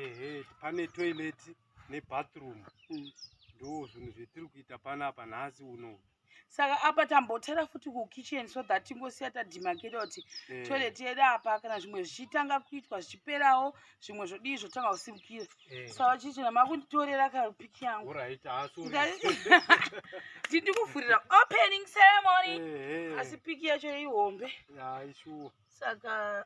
ehe pane toilet nebathroom mm. ndo zvinhu zvetiri kuita panapa nhasi uno saka apa tambotara futi kukitchen so that tingosiya tadimakeda kuti eh. toilet yedu apa kana zvimwe zvichitanga kuitwa zvichiperawo zvimwe zvodii zvotanga kusimukira eh. saka chichina makunditorera kapiki yangu tindi kuvhurira opening ceremony eh, asi piki yacho ihombe saka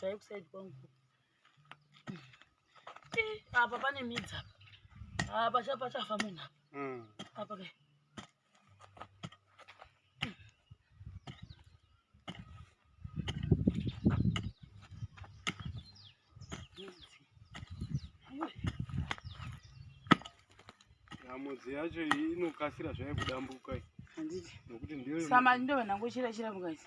Dai kuside kwangu. Eh, apa pane midzi apa. Apa ah, chapa chafa munhu apa. Mm. Apa kai. mudzi yacho inokasira zvayo kudambuka nokuti ndiyo saka ndovanangochira chira mukati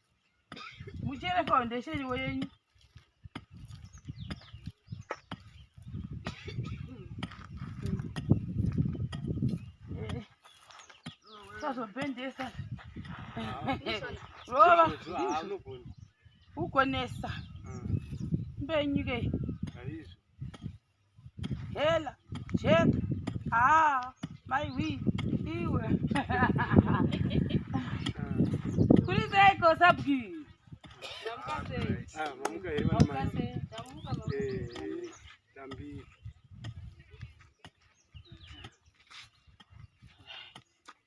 muchere foundation iwe yenyu sazobhendesa rova ugonesa mbenyike hela jeka haa maiwi iwe kuri seiko sabgii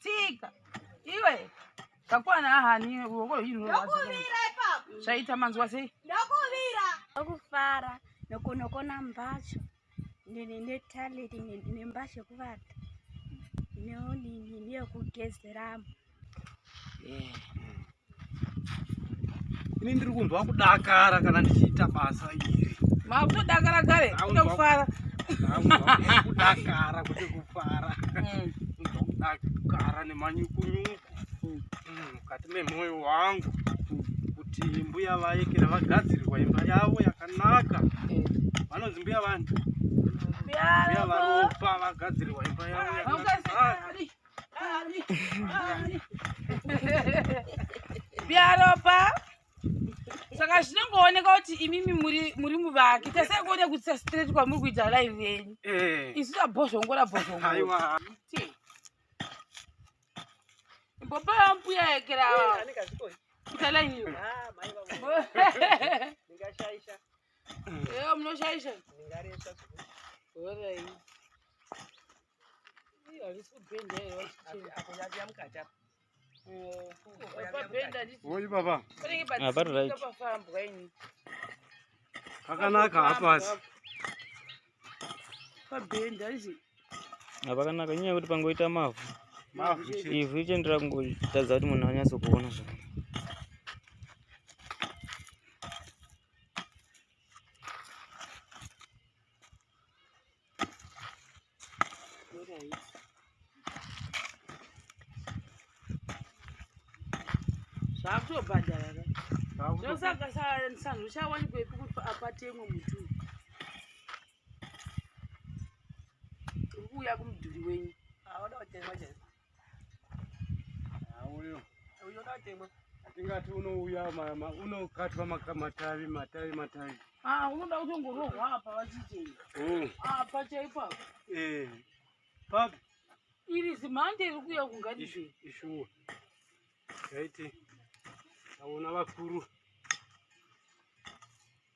tsika iwe kakwana ahani ruoko zvaita manzwa sei ndokuvira ndokufara nokunokona mbatso netaleti nembatso yekuvata neonini neyekugezeramo yeah. ini ndiri kunzwa kudakara kana ndichiita basa iri makutodakara kare kutofara kudakara kuti kufara mm. kudakara nemanyukunyuku mm. mm, mukati memwoyo wangu kuti mbuya vayekera vagadzirirwa imba yavo yakanaka vanonzi mbuya vanhu mbuya varopa vagadzirirwa imba yavo yakanaka biaropa saka zvinongooneka kuti imimi muri muvaki tese kuone kuitisa straight kwamuri kuita live venyu eh. isu tabhozvongora bhozvongora mbopa yambuya yekera kuita line iyo munoshaisha Oi baba. Ah, pari right. Pakanaka hapasi. Pabhenda izvi. Ah, pakanaka nyaya kuti pangoita mavhu. Mavhu chete. Ivhu icho ndira kungotadza kuti munhu anyatso kuona zvakanaka. zvakutobhadhara ka zvosaka sanhu chawanikwa ipi kuti apatemwe muti uyu uri kuuya kumudhuri wenyu Auyo. Auyo datemwa. Atingati unouya unokatwa matavi matavi matavi. Ah, unoda kutongorohwa apa vachiti. Oh. Apa chaipo apa. Eh. Papi. Iri zimhande iri kuya kungadi zve. Ishuwa. Yaiti. Aona vakuru.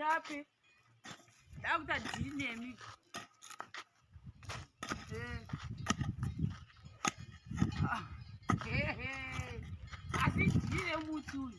Dzapi? Dakuta dhiri nemi. Eh. Ah. He he. Asi dhiri remuti uyu.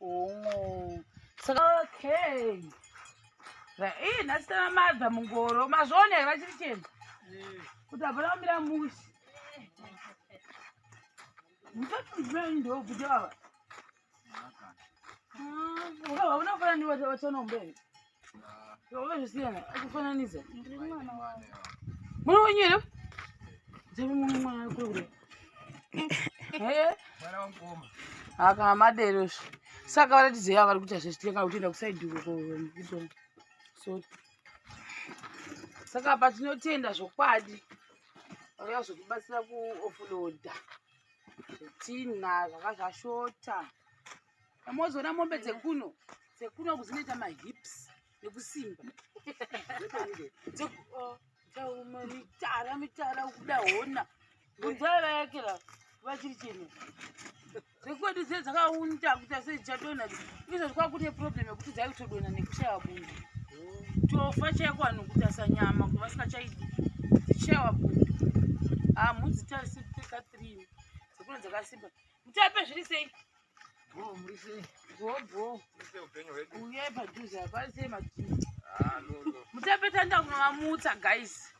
Oh. Saka okay. Ii nhasi tana madza mungoro mazvone here vachiri chena kuti hapana kumira musi musatunzimeni ndookuti vava unofananiwatonomberi Wazvisiyana, akufananidza. Ndiri mwana wako. Mwana wenyu here? Dzave mwana mwana ari kure kure. Eh? Mwana wamukoma. Aka madero izvi. Saka varatidze yavo vari kuita zvechitenga kutienda kusaidi uko kuito. Sorry. Saka apa tinotenda zvokwadi. Vauya zvokubatsira kuofuloda. Zvetina zvakazvashota. Amozoona mombe dzekuno dzekuno kudzinoita mahips nekusimba dzekuuma mitara mitara ukuda hona bunzai vayakira vachiri chino dzekwedu dze dzakaunta kuita sei dzichadonha izvo zvakakune problem yekuti dzai kutodonha nekushaiwa bundu tofa chaiko vanhu kutasa nyama kuva sikachaidi dzichaiwa bundu hamhu dzitarisi teka three dzekuno dzakasimba mutape zviri sei Bro, murise. Bro, bro. Murise upenyu hwedu. Uye padhuze hapana sei madhuze. Ah, no, no. Mutapeta nda kunovamutsa guys.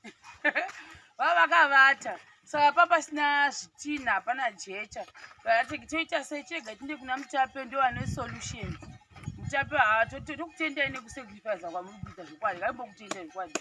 Vava vakavata. Saka pa pasina zvitina hapana jecha. Vakati toita sei chega tinde kuna mutape ndo ane solution. Mutape haa tokutendai nekusacrifice kwamuri kuita zvokwadi. Kaimbo kutendai zvokwadi.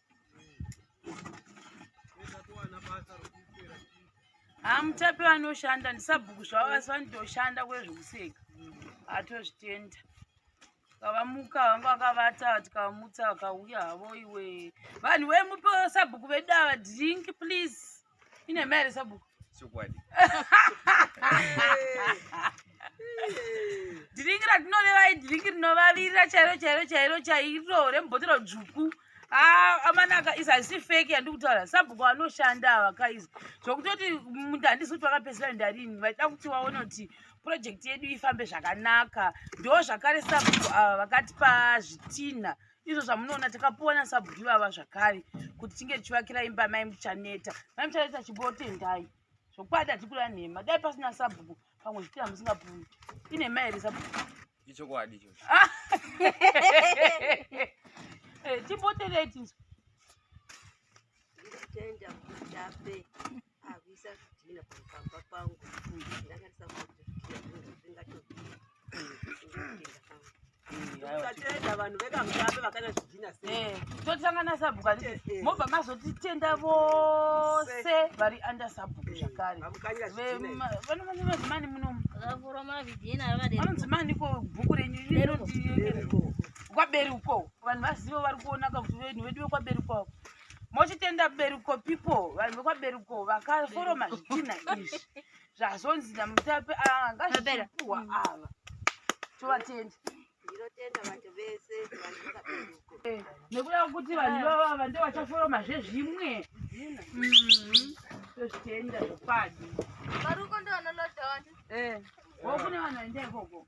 hamutape vanoshanda ndisabhuku zvavo vasi vanotoshanda kwezvekuseka atozvitenda kavamuka vanga vakavata tikamutsa vakauya havo iwe vanhu vemupo sabhuku vedu ava drink please ine mai here sabhuku chokwadi dhiringi ratinoreva idhiringi rinovavirira chairo chairo chairo chairo rembotero dzvuku ah, amanaka izi hazisi feki yandiri kutaura sabhuku vanoshanda ava kaizi zvokutoti munda handisi kuti vakapedzera ndarini vaida kuti vaone kuti purojekti yedu ifambe zvakanaka ndo zvakare sabhuku ava vakatipa zvitinha izvo zvamunoona takapuwa nasabhuku ivava zvakare kuti tinge tichivakira imba mai muchaneta mai muchaneta chimbotendai zvokwadi hatikura nhema dai pasina sabhuku pamwe zvipira musingapumi inhema here sabhuku ichokwadi ichocho ah! eh, timbotendai tinzwa Akuisa zvidhina pamba pangu ndanga ndisakuti zvidhina zvingatopinda pangu ukatenda vanhu vekamutambe vakana zvidhina sei eh, totangana sabhuku ati eh, eh. mobva mazotitenda vose vari under sabhuku zvakare vanomanimazimani munomu vanonzimani ko bhuku renyu kwaberuko vanhu vazivo vari kuonaka kuti venhu vedu vekwaberuko avo mochitenda beruko pipo vanhu vekwaberuko vakaforoma zvitina izvi zvazonzi namutape angazvipuwa ah, mm. ava tovatenda eh, nekuda kwekuti vanhu eh. vavava ndo vachaforoma zvezvimwe mm-hmm. tozvitenda zvopadi varuko ndo vanolodhona eh. wo kune vanhu vaenda ikoko